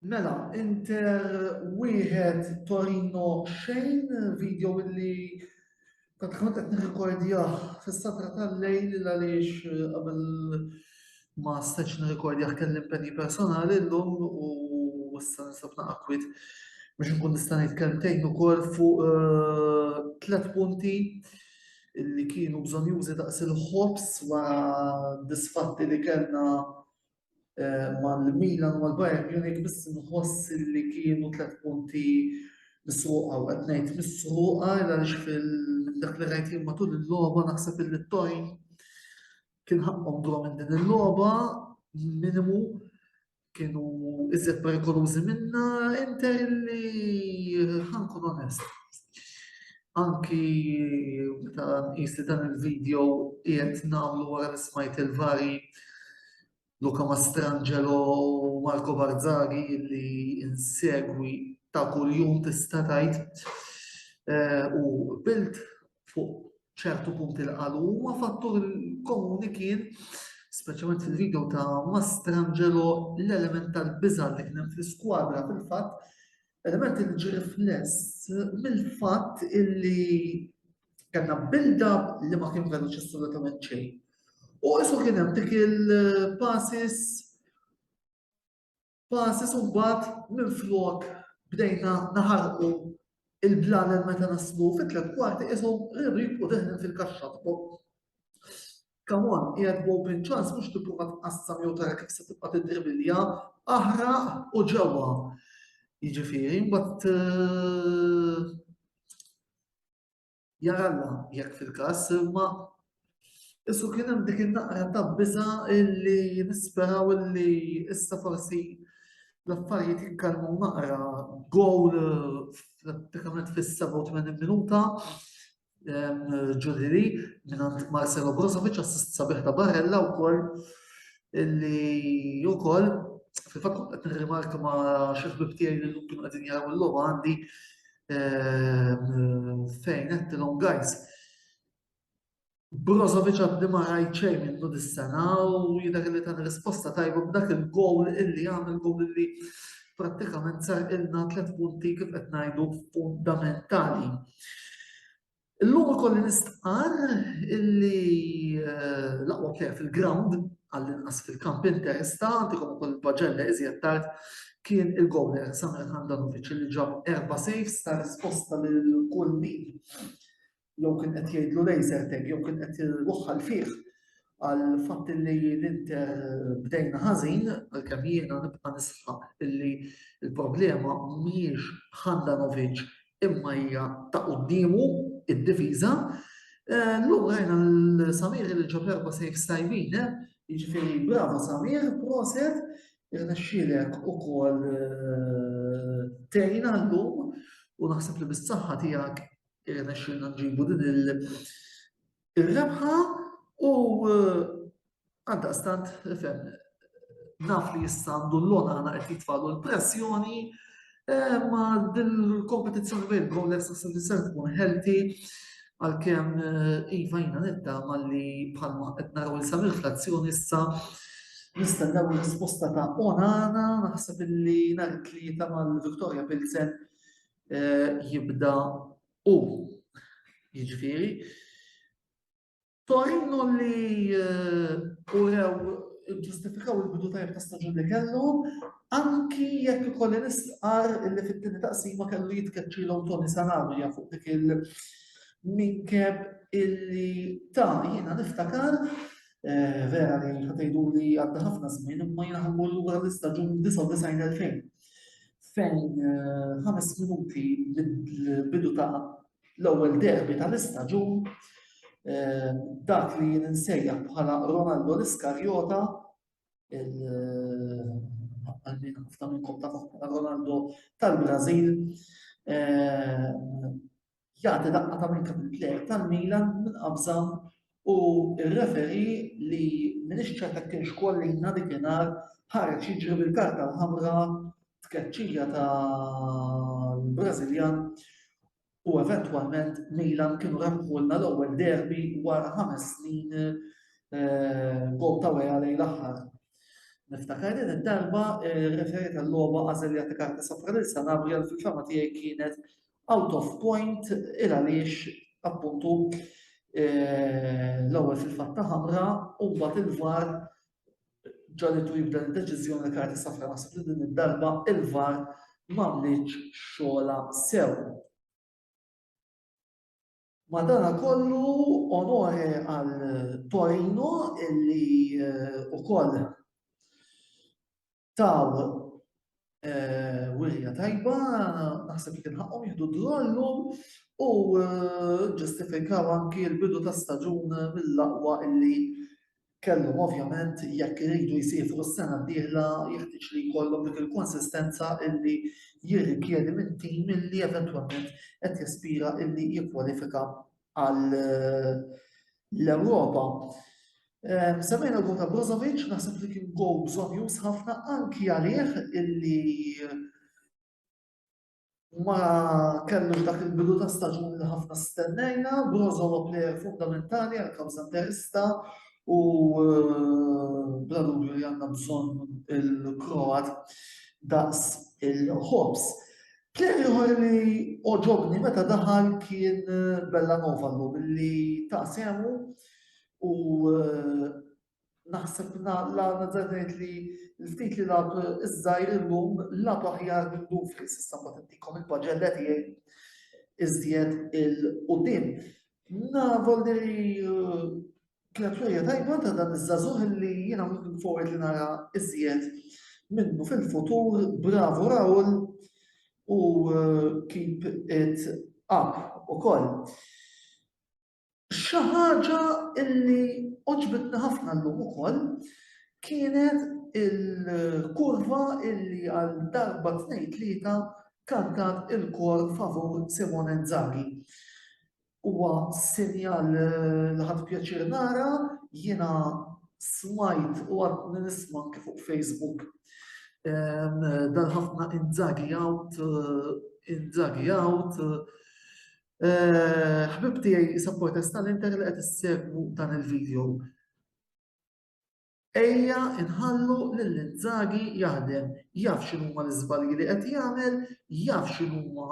Mela, Inter wieħed Torino xejn, video illi kont kont qed nirrikordjah fis-satra tal-lejl il għaliex eh, qabel ma stax nirrikordjah kelli impenji personali llum u issa nisab naqakwit biex nkun nista' nitkellmtejn ukoll fuq eh, tliet punti illi kienu bżonn jużi daqs il-ħobs wara disfatti li kellna mal-Milan u mal-Bayern Munich biss nħoss li kienu tliet punti misruqa u qed ngħid misruqa għaliex fil-dak li rajt jien matul il-logħba naħseb li t-tojn kien ħaqqhom draw minn din il-logħba minimu kienu iżjed perikolużi minna inter li ħankun onest. Anki meta nqis li dan il-video qiegħed nagħmlu wara li smajt il-vari Luca Mastrangelo u Marco Barzaghi li insegwi ta' kuljum tista' tgħid eh, u bilt fuq ċertu punti li qalu huma fattur komuni kien speċjalment fil-video ta' Mastrangelo l-element tal-biża li kien fl-iskwadra fil-fatt Element li ġi rifless mill-fatt illi kellna build-up li ma kien veloċi assolutament xejn. U isu kien hemm dik il-passes passes u mbagħad minn flok bdejna naħarqu il-blanen meta naslu fit-tlet kwarti isu ribri u deħlin fil-kaxxa fuq. Come on, qiegħed b'open chance mhux tipprova tqassam jew tara kif se tibqa' tiddribilja, aħraq u ġewwa. Jiġifieri mbagħad eh, jaralla jekk fil-każ imma Issu kien hemm dik in-naqra ta' biża illi nisperaw illi issa forsi l-affarijiet jikkalmu naqra gowl eh, pratikament fis-87 minuta ġuriri minn Marcelo Brozovic assist sabiħ ta' Barella wkoll illi wkoll fil-fatt kont qed nirrimarka ma' xi ħbib tiegħi li llum kienu qegħdin jaraw il-logħba għandi fejn qed tilhom guys. Brozovic għaddi ma rajt xejn minnu dis-sena u jidher li tan risposta tajba b'dak il-gowl illi għamel gowl illi prattikament sarqilna tliet punti kif qed ngħidu fundamentali. Illum ikolli nistqar illi eh, l-aqwa plejer fil-ground għall-inqas fil-kamp interista, għandikom ukoll il-paġella iżjed tard kien il-gowler Samir Handanovic li ġab erba saves ta' risposta lil kull min jew kien qed jgħidlu laser tag jew kien qed iwaħħal fih għal fatt li l-Inter bdejna ħażin għalkemm jiena nibqa' nisħaq illi l-problema mhijiex Handanovic imma hija ta' quddiemu id-diviża. Eh, Lum rajna l-Samir li ġab erba' sejf sajbin, eh? jiġifieri bravo Samir, proset, irnexxielek ukoll eh, tejna llum u naħseb li bis-saħħa tiegħek irnexxilna nġibu din il-rebħa u eh, għandaqstant fem naf li jissa għandu l-lona għana qed jitfalu l-pressjoni eh, ma dil-kompetizzjoni bejn Gomlex u Sir tkun healthy għal-kem eh, Iva jina nidda li bħalma qed naraw il-samil frazzjoni issa nistennaw risposta ta' onana naħseb li nhar it-tlieta mal-Victoria Pilsen jibda u. Jiġifieri, Torino li urew ġustifikaw il-bidu tajjeb ta' staġun li kellhom, anki jekk ikolli nistqar li fit-tieni taqsima kellu jitkeċċilhom Tony Sanabria fuq dik il-minkeb illi ta' jiena niftakar vera li ħatejdu li għadda ħafna żmien imma jiena ħammur lura l-istaġun 99 fejn. fejn ħames minuti l-bidu ta' l-ewwel derbi tal-istaġun dak li jien insejjaħ bħala Ronaldo l-Iskarjota għalmin ħafna minnkom ta' Ronaldo tal-Brażil Jagħti daqqa ta' minn kapil plejer tal-Milan minn qabża u r-referi li m'iniex ċert jekk kienx Collina dik ingħar ħareġ jiġri bil-karta l-ħamra tkeċċija tal-Brażiljan u eventwalment Milan kienu rebħulna l-ewwel derbi wara ħames snin eh, gol ta' weja lejn l-aħħar. Niftakar din id-darba eh, referi tal-logħba għażel jagħti karta safra lil Sanabria fil-fama tiegħi kienet out of point il għaliex appuntu eh, l-ewwel fil-fatta ħamra u mbagħad il-var ġalitu jibda l-deċiżjoni li għati safra naħseb li din id-darba il-var m'għamlitx xogħla sew. Madanakollu onore għal Torino illi ukoll taw wirja tajba, naħseb li kien ħaqqhom jieħdu drollu u ġustifikaw anki l-bidu ta' staġun mill-aqwa illi kellhom ovvjament jekk iridu jsifru s-sena d-dieħla jeħtieġ li jkollhom dik il-konsistenza illi jirrikjedi minn tim illi eventwalment qed jaspira illi jikkwalifika għal eh, l-Ewropa. Eh, Semmejna l ta' Brozovic, naħseb li kien go bżonn jus ħafna anki għalih illi ma kellux dak il-bidu ta' staġun li ħafna stennejna, Brozo huwa plejer fundamentali għal kawża interista u eh, bla dubju li għandna bżonn il-Kroat daqs il-ħobs. Plejer ieħor li oġobni meta daħal kien eh, Bella Novallu billi ta' semu u eh, naħseb l-għana zanet li l-ftit li lab iż-żajr illum lab aħjar minnu fis issa ma tintikom il-paġella tiegħi iżjed il-qudiem. Navol li uh, kienet rejja tajba ta' dan iż-żazuħ li jiena minn forward li nara iżjed minnu fil-futur, bravo Raul u uh, keep it up u koll. Xi ħaġa li għoġbitni ħafna llum ukoll kienet il-kurva li għal darba tnejn tlieta kantat il-kor favur Simone Inzaghi. Huwa sinjal li ħadt pjaċir nara, jiena smajt u għadni nisma' anke fuq Facebook dal-ħafna Inzaghi out, Inzaghi out, Ħbib tiegħi Isa Protesta li inti li qed issegwu dan il-video. Ejja inħallu lil Inzaghi jaħdem, jaf x'inhuma l-iżbalji li qed jagħmel, jaf x'inhuma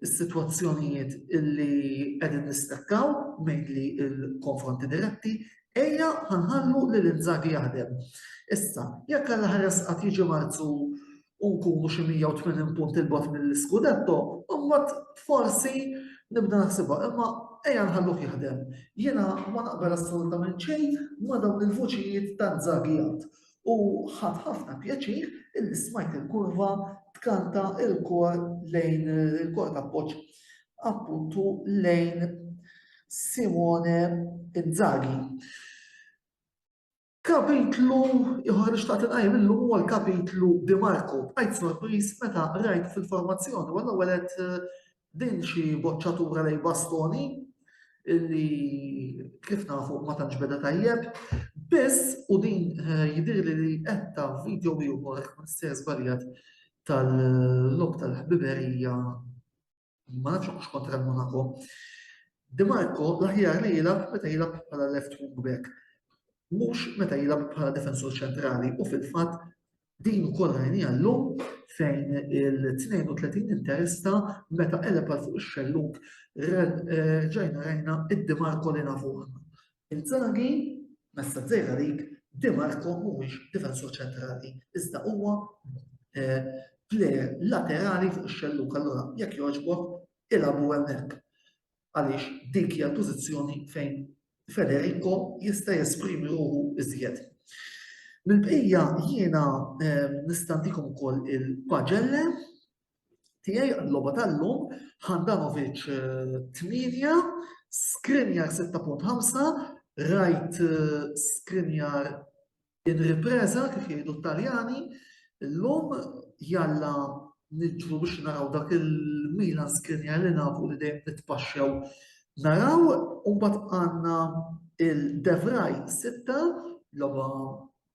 s-sitwazzjonijiet illi qegħdin nistakkaw mainly il-konfronti diretti, ejja ħanħallu li l-inżagi jaħdem. Issa, jekk għal ħares qatt jiġi marzu u nkunu xi 180 punt il bogħod mill-Scudetto, imbagħad forsi nibda naħsibha, imma ejja nħalluh jaħdem. Jiena ma naqbel assolutament xejn ma dawn il-vuċijiet ta' żagijat. U ħadd ħafna pjaċir illi smajt il-kurva tkanta il-kor lejn il-kor ta' poċ appuntu lejn Simone Inzaghi. Kapitlu ieħor li xtaqt inqajjem illum huwa l-kapitlu Di Marku. Bqajt sorpriż meta rajt fil-formazzjoni u l-ewwel qed eh, din xi boċċatura lej bastoni illi kif nafu ma tantx beda tajjeb. Biss u din eh, jidir li li qetta video ieħor ma se żbaljat tal-lok tal-ħbiberija Ma nafx hux kontra l-Monaco. Di Marco l-aħjar li jilab meta jilab bħala left wing back. Mhux meta jilab bħala defensur ċentrali u fil-fatt din ukoll rajnija llum fejn il-32 interista meta qeleb għal fuq ix-xelluk eh, ġajna rajna id-Di Marco li nafu Inzaghi, messaġġ żgħir għalik, Di Marco mhuwiex difensur ċentrali, iżda huwa plejer laterali fuq ix-xellug, allura jekk jogħġbok ilagħbu hemmhekk. Għaliex dik hija l-pożizzjoni fejn Federico jista' jesprimi ruħu iżjed. Mill-bqija jiena nistantikom ukoll il-paġelle tiegħi l-logħba tal-lum, Handanovic 8, Skriniar 6.5, rajt Skriniar in ripreza kif jgħidu t-Taljani, l-lum jalla nidġu biex naraw dak il-Milan Skriniar li nafu li dejjem nitpaxxew naraw, u mbagħad għandna il-Devraj 6, logħba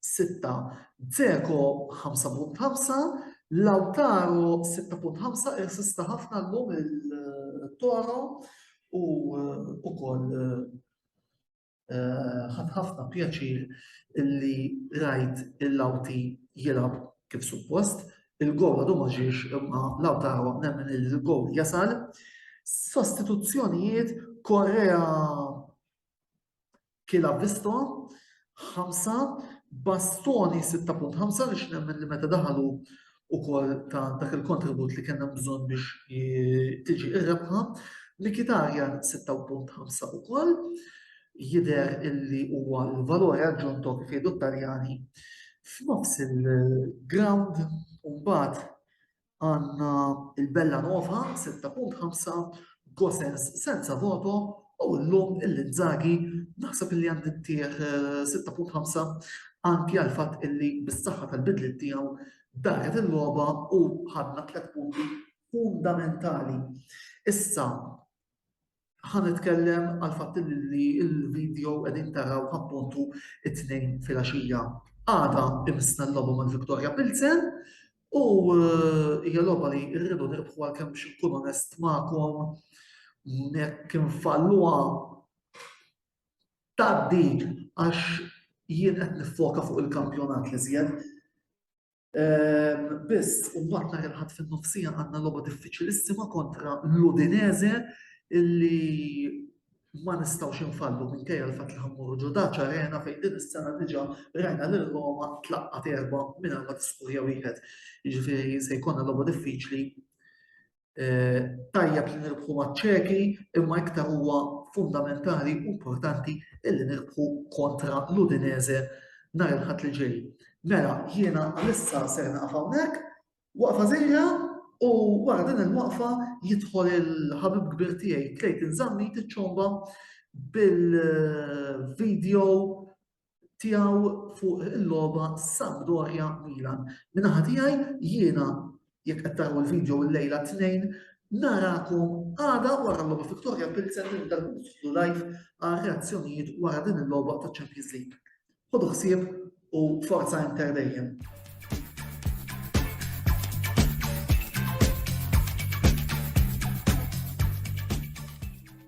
sitta, Dzeko 5.5, Lautaro 6.5 irsista ħafna llum il-Toro u ukoll eh, ħadd ħafna pjaċir li rajt il-lawti jilab kif suppost. Il-gol għadu ma ġiex imma Lautaro nemmen il-gol jasal. Sostituzzjonijiet Korea kila visto, 5, bastoni 6.5 li xnemmen li meta daħalu u kol ta' dak il-kontribut li kena bżon biex tiġi ir-rebħa, likitarja 6.5 u kol, jider illi huwa l-valore aggiunto kif jgħidu taljani f'nofs il-ground u mbagħad għandna il-Bella Nova 6.5, Gosens senza voto u llum il-Inzaghi naħseb li għandi ntih 6.5 anki għal fatt illi bis-saħħa tal-bidliet tiegħu daħlet il-logħba u ħadna tliet punti fundamentali. Issa ħa nitkellem għal fatt li l-video qegħdin taraw appuntu it-tnejn filgħaxija. Għada imissna l-logħba mal-Victoria Pilsen u eh, hija logħba li rridu nirbħu għal kemm biex nkun onest magħkom nek infalluha taddi għax jien qed nifoka fuq il-kampjonat li żjed Biss, u mbagħad nhar il-Ħadd fin-nofsija għandna logħba diffiċilissima kontra l-Udinese illi ma nistgħux infallu minkejja l-fatt li ħammuru ġo Daċ Arena fejn din is-sena diġà rajna lil Roma tlaqqat erba' mingħajr ma tiskurja wieħed. Jiġifieri se jkollna logħba diffiċli tajjeb li nirbħu maċ-Ċeki imma iktar huwa fundamentali u importanti illi nirbħu kontra l-Udinese nhar il-Ħadd li ġej. Mela, jiena għalissa ser naqaf hawnhekk, waqfa żejra u wara din il-waqfa jidħol il-ħabib kbir tiegħi Clayton Zammi tiċċomba bil-video tiegħu fuq il-logħba Sampdoria Milan. Minaħa tiegħi jiena jekk qed taraw il-video l-lejla tnejn narakom għada wara l-logħba Victoria Pilsen li ndarbu live għal reazzjonijiet wara din il-logħba ta' Champions League. Ħodu ħsieb u forza inter dejjem.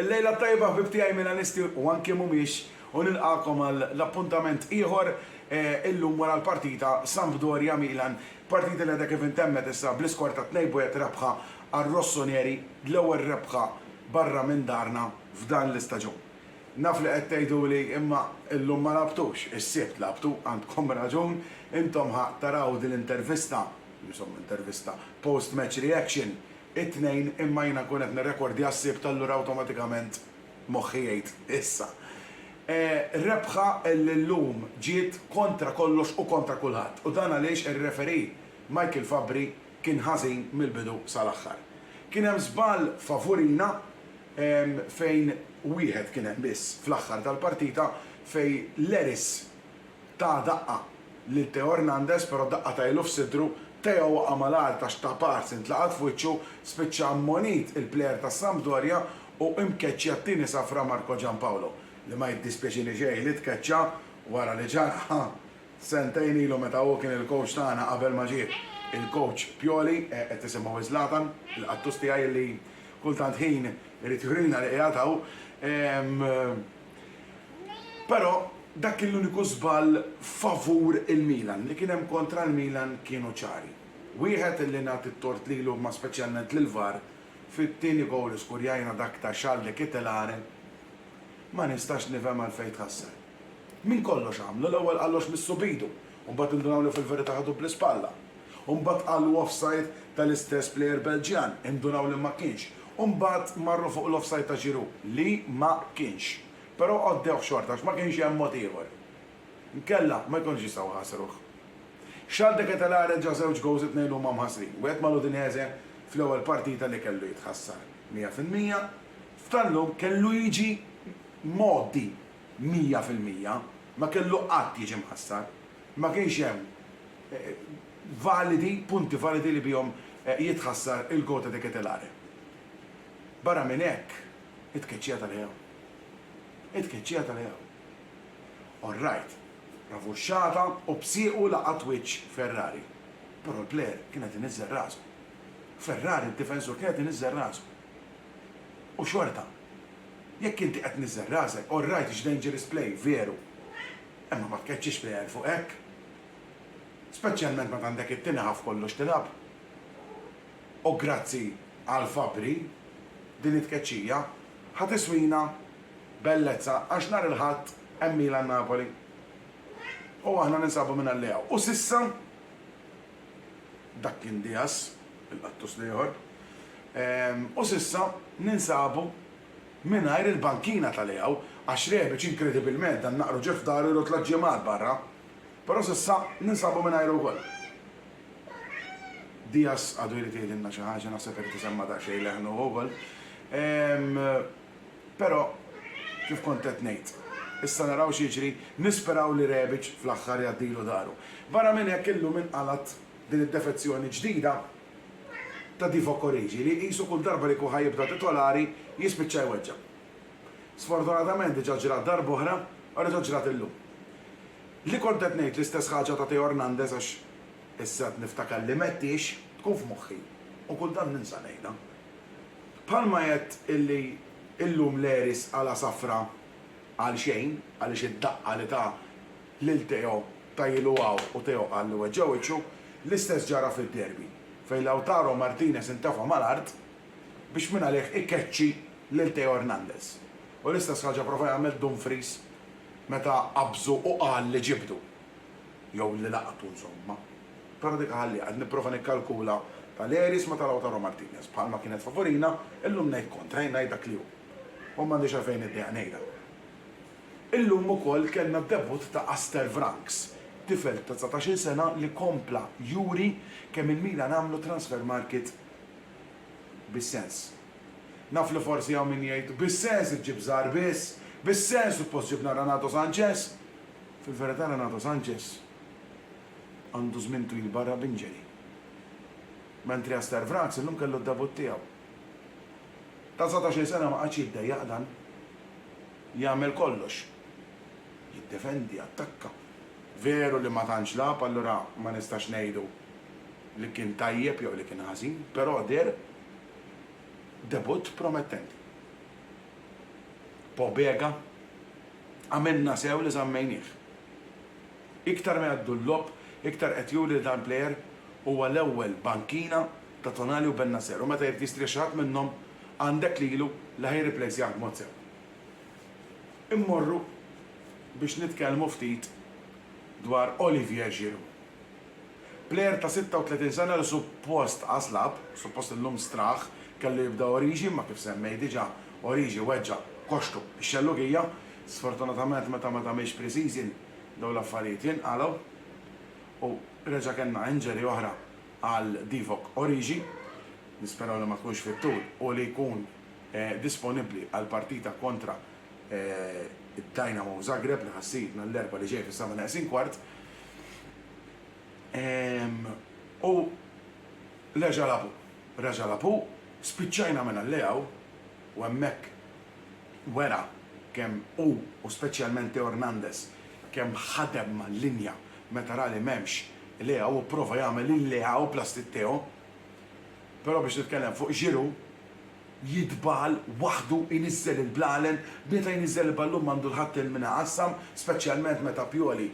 Il-lejla t-tajba ħbib tiegħi Milanisti u anke mhumiex u nilqagħkom għal appuntament ieħor illum wara l-partita Sampdoria Milan, partita li għadha kif intemmet issa bl-iskor ta' 2 b' 1 rebħa għar-Rossoneri, l-ewwel rebħa barra minn darna f'dan l-istaġun. Naf li qed tgħiduli, imma illum ma lagħbtux, is-Sibt lagħbtu, għandkom raġun, intom ħa taraw din l-intervista, insomma intervista, post match reaction, it-Tnejn imma jiena nkun qed nirrekordja s-Sibt allura awtomatikament moħħi jgħid issa. Rebħa li llum ġiet kontra kollox u kontra kulħadd u dan għaliex ir-referee Michael Fabbri kien ħażin mill-bidu sal-aħħar. Kien hemm żball favurina fejn wieħed kien hemm biss fl-aħħar tal-partita fejn Leris ta daqqa lil Theo Hernandez però daqqa ta ilu f'sidru, Theo waqa' mal-art għax ta pass intlaqat f'wiċċu, spiċċa ammonit il-plejer tas-Sampdoria u imkeċċja t-tieni safra Marco Giampaolo li ma jiddispjaċini xejn li tkeċċa wara li ġarrha sentejn ilu meta hu kien il-coach tagħna qabel ma ġie il-coach Pioli, qed tisimgħu Zlatan, il-qattus tiegħi li Kull tant ħin irid jurilna li qiegħed hawn. Però dak kien l-uniku żball favur il-Milan. Li kien hemm kontra l-Milan kienu ċari. Wieħed li nagħti t-tort lilu imma speċjalment lill-VAR fit-tieni gowl li skurjajna dak ta' Charles de Ketelaere ma nistax nifhem għalfejn tħassar. Minn kollox għamlu l-ewwel qallox missu b'idu u mbagħad indunaw li fil-verità ħadu bl-ispalla, u mbagħad qallu offside tal-istess plejer Belġjan, indunaw li ma kienx, u mbagħad marru fuq l-offside ta' Giroud, li ma kienx, però għoddewh xorta għax ma kienx hemm mod ieħor. Inkella ma jkunux jistgħu jħasruh. Charles de Ketelaere ġa żewġ gowls it-tnejn huma mħassrin, wieħed mal-Udinese fl-ewwel partita li kellu jitħassar 100%, f'tal-lum kellu jiġi mgħoddi mija fil-mija, ma kellu qatt jiġi mħassar. Ma kienx hemm validi, punti validi li bihom jitħassar il-Gota de Ketelaere. Barra minn hekk, it-tkeċċija ta' Leao. It-tkeċċija ta' Leao. All right, ravuxxata u b'siequ laqat wiċċ Ferrari, però l-player kien qed iniżżel rasu. Ferrari d-difensur kien qed iniżżel rasu. U xorta, Jekk inti qed tniżżel rasek, all right it's dangerous play, veru. Imma ma tkeċċix plejer fuq hekk. Speċjalment meta għandek it-tieni half kollox tilgħab. U grazzi għal Fabri, din it-tkeċċija ħa tiswina bellezza għax nhar il-Ħadd hemm Milan-Napoli. U aħna ninsabu mingħalliha. U s'issa? dak kien Diaz, il-qattus l-ieħor, u s'issa ninsabu mingħajr il-bankina ta' Leao għax Rebic inkredibilment dan naqru ġie f'daru jru tliet ġimgħat barra, però s'issa ninsabu mingħajru wkoll. Diaz għadu jrid jgħidilna xi ħaġa, naħseb irid isemma' daqsxejn leħnu hu wkoll. Però, kif kont qed ngħid, issa naraw x'jiġri, nisperaw li Rebic fl-aħħar jgħaddilu dahru. Barra minn hekk illum inqalgħet din id-defezzjoni ġdida ta' Divock Origi li qisu kull darba li jkun ħa jibda titolari jispiċċa jweġġa'. Sfortunatament diġà ġrat darb'oħra u reġgħet ġrat illum. Li kont qed ngħid l-istess ħaġa ta' Teo Hernandez għax issa qed niftakar li Metti ix tkun f'moħħi u kultant ninsa ngħidha. Bħalma għedt illi illum l-Aries għala safra għalxejn għaliex id-daqqa li ta lil Teo ta ilu hawn u Teo qal li weġġa' wiċċu, l-istess ġara fid-Derby fejn Lautaro Martinez intefa' mal-art biex mingħalih ikeċċi lil Teo Hernandez u l-istess ħaġa prova jagħmel Dumfries meta qabżu u qal li ġibdu. jew li laqtu insomma. Però dik aħalliha, qed nipprova nikkalkula Talleres ma' ta' Lautaro Martinez, bħalma kienet favurina, illum ngħid kontra, jien ngħid dak li hu. U m'għandix għalfejn niddejjaq ngħidha. Illum ukoll kellna d-debutt ta' Aster Vranckx, tifel ta' dsatax-il sena li kompla juri kemm il-Milan għamlu transfer market bis-sens. Naf li forsi hawn min jgħid, bis-sens iġġib żgħar biss, bis-sens suppost ġibna Renato Sanches. Fil-verità Renato Sanches għandu żmien twil barra b'injury, mentri Aster Vraz illum kellu d-debutt tiegħu. Ta' dsatax-il sena ma qagħadx jiddejjaq dan. Jagħmel kollox. Jiddefendi, jattakka. Veru li ma tantx lagħab allura ma nistax ngħidu li kien tajjeb jew li kien ħażin, però deher debutt promettenti. Pobega Għamilna sew li żammejnieh. Iktar ma jgħaddu l-logħob, iktar qed juri li dan il-plejer huwa l-ewwel bankina ta' Tonali u Bennacer u meta jrid jistrieħ xi ħadd minnhom għandek lilu li ħa jirriplejsjah b'mod sew. Immorru biex nitkellmu ftit dwar Olivier Giroud. Plejer ta' 36 sena li suppost qas lagħab, suppost illum straħ, kellu jibda Origi imma kif semmejt diġà, Origi weġġa' koxxtu x-Xellugija. Sfortunatament meta ma tagħmilx pre-season dawn l-affarijiet jinqalgħu u reġa' kellna injury oħra għal Divock Origi. Nisperaw li ma tkunx fit-tul u li jkun disponibbli għall-partita kontra id-Dynamo Zagreb li ħa ssir nhar l-Erbgħa li ġej fis-seba' neqsin kwart. U reġa' lagħbu. Reġa' lagħbu, spiċċajna minn Alleaw u hemmhekk wera kemm hu u speċjalment Theo Hernandez kemm ħadem mal-linja meta ra li m'hemmx Leao u pprova jagħmel il-Leao plastik tiegħu. Però biex nitkellem fuq Giroud, jidbal waħdu jniżżel il-blalen meta jniżżel il-ballun m'għandu l-ħadd il min iqassam speċjalment meta Pioli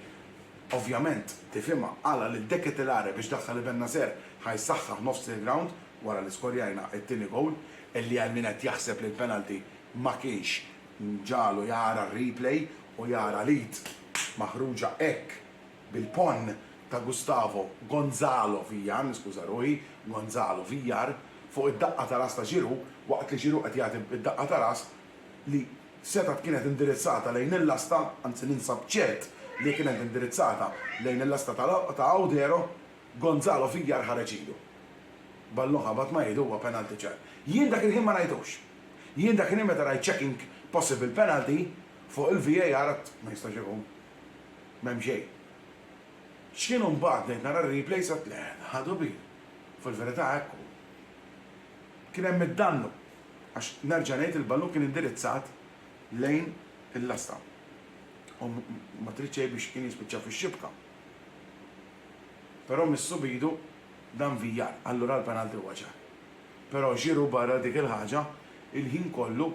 ovvjament tifhimha għala lil De Ketelaere biex daħħal Ibennacer ħa jsaħħaħ nofs il-grawnd wara li skorjajna t-tieni gowl illi għal min qed jaħseb li l-penalty ma kienx ġagħlu jara r-replay u jara l-id maħruġa hekk bil-ponn ta' Gustavo Gonzalo Villar, niskuża ruħi, Gonzalo Villar, fuq id-daqqa ta' ras ta' Giroud waqt li Giroud qed jagħti d-daqqa ta' ras li setgħet kienet indirizzata lejn il-lasta, anzi ninsab ċert li kienet indirizzata lejn il-lasta ta' Audero, Gonzalo Villar ħareġ idu. Ballun ħabat ma' idu huwa penalty ċar. Jien dak il-ħin ma rajtux. Jien dak il-ħin meta rajt checking possible penalty fuq il-VAR għadt ma jistax ikun. M'hemm xejn. X'kienu mbagħad bdejt nara r-replays għedt le, ħadu bil. Fil-verità hekk hu. Kien hemm id-dannu għax nerġa' ngħid il-ballun kien indirizzat lejn il-lasta u ma trid xejn biex kien jispiċċa fix-xibka. Però missu b'idu dan Villar, allura l-penalty huwa ċar. Però Giroud barra dik il-ħaġa il-ħin kollu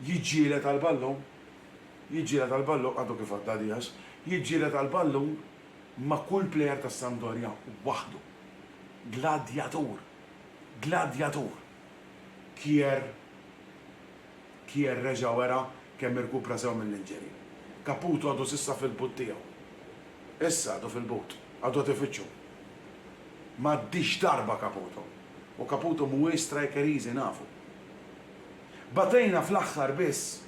Jiġġieled għall-ballun, jiġġieled għall-ballun, għadu kif għadda Diaz, jiġġieled għall-ballun ma' kull plejer tas-Sampdoria waħdu. Gladjatur! Gladjatur! Kier Kier reġa' wera kemm irkupra sew mill-injury. Caputo għadu s'issa fil-but tiegħu. Issa għadu fil-but. Għadu qed ifittxu. M'għaddiex darba Caputo. U Caputo mhuwiex striker easy nafu. Batejna fl-aħħar biss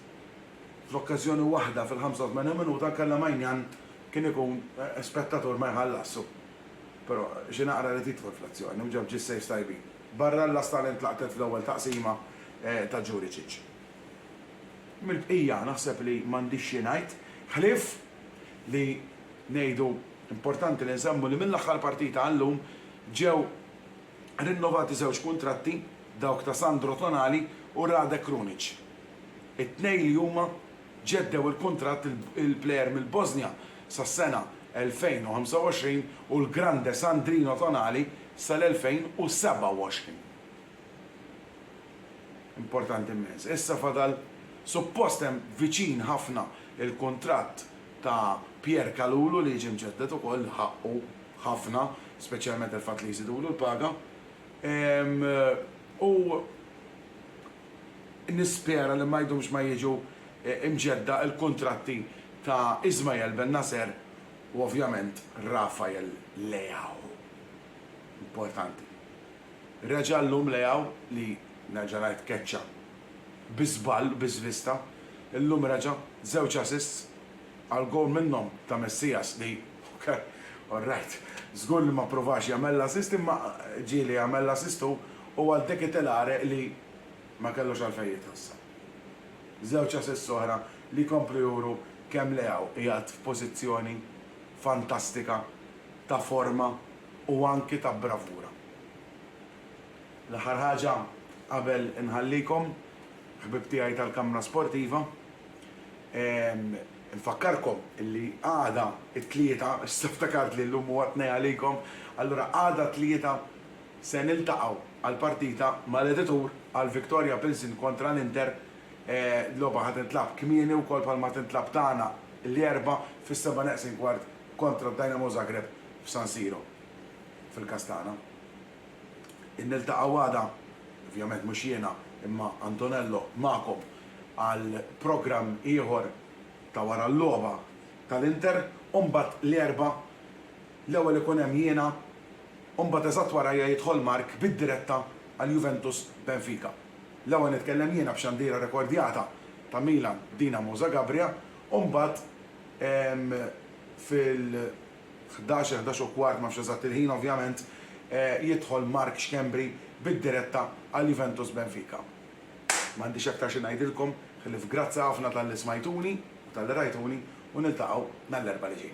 fl-okkażjoni waħda fil-85 minuta nkella Maignan kien ikun spettatur ma jħallasx u però xi naqra ried jidħol fl-azzjoni u ġab ġie saves tajbin. Barra l-Las talent laqtet fl-ewwel taqsima ta' Juricic. Mill-bqija naħseb li m'għandix xi ngħid ħlief li ngħidu importanti li nsemmu li mill-aħħar partita għal-lum ġew rinnovati żewġ kuntratti, dawk ta' Sandro Tonali u Rade Krunic. It-tnejn li huma ġeddew il-kuntratt il-plejer mill-Bożnja sas-sena 2025 u l-grande Sandrino Tonali sal-2027. Importanti mmens. Issa fadal suppost hemm viċin ħafna il-kuntratt ta' Pierre Kalulu li jiġi mġedded ukoll, ħaqqu. ħafna, speċjalment il-fatt li jżidulu l-paga. U nispera li ma jdumx ma jiġu mġedda l-kuntratti ta' Ismael Bennacer u ovvjament Rafael Leao. Importanti. Reġa' llum Leao li, nerġa' ngħid, keċċa bi żball, bi żvista, illum reġa' żewġ assists. Għal gowl minnhom ta' Messias li ok, orrajt, żgur li ma ppruvax jagħmel l-assist imma ġieli jagħmel l-assist hu u għal De Ketelare li ma kellux għalfejn jitħassar. Żewġ assists oħra li jkomplu juru kemm Leao qiegħed f'pożizzjoni fantastika ta' forma u anki ta' bravura. L-aħħar ħaġa qabel inħallikom, ħbieb tiegħi tal-kamra sportiva, Infakkarkom li għada t-Tlieta, issa ftakart li llum huwa t-Tnejn għalikom, allura għada t-Tlieta se niltaqgħu għall-partita mal-editur għal Victoria Pilsen kontra l-Inter. Logħba ħa tintlagħab kmieni wkoll bħalma tintlagħab tagħna l-Erbgħa fis-seba' neqsin kwart kontra d-Dynamo Zagreb f'San Siro, fil-każ tagħna. Niltaqgħu għada, ovvjament mhux jiena imma Antonello magħkom għal programm ieħor ta' wara l-logħba tal-Inter u mbagħad l-Erbgħa l-ewwel ikun hemm jiena u mbagħad eżatt warajja jidħol Mark bid-diretta għal Juventus Benfica. L-ewwel nitkellem jiena b'xandira rekordjata ta' Milan Dinamo Zagabria u mbagħad fil ħdax, il-ħdax u kwart, m'għafx eżatt il-ħin ovvjament, jidħol Mark Schembri bid-diretta għal Juventus Benfica. M'għandix aktar xi ngħidilkom ħlief grazzi ħafna talli smajtuni u talli rajtuni u niltaqgħu nhar l-Erbgħa li ġej.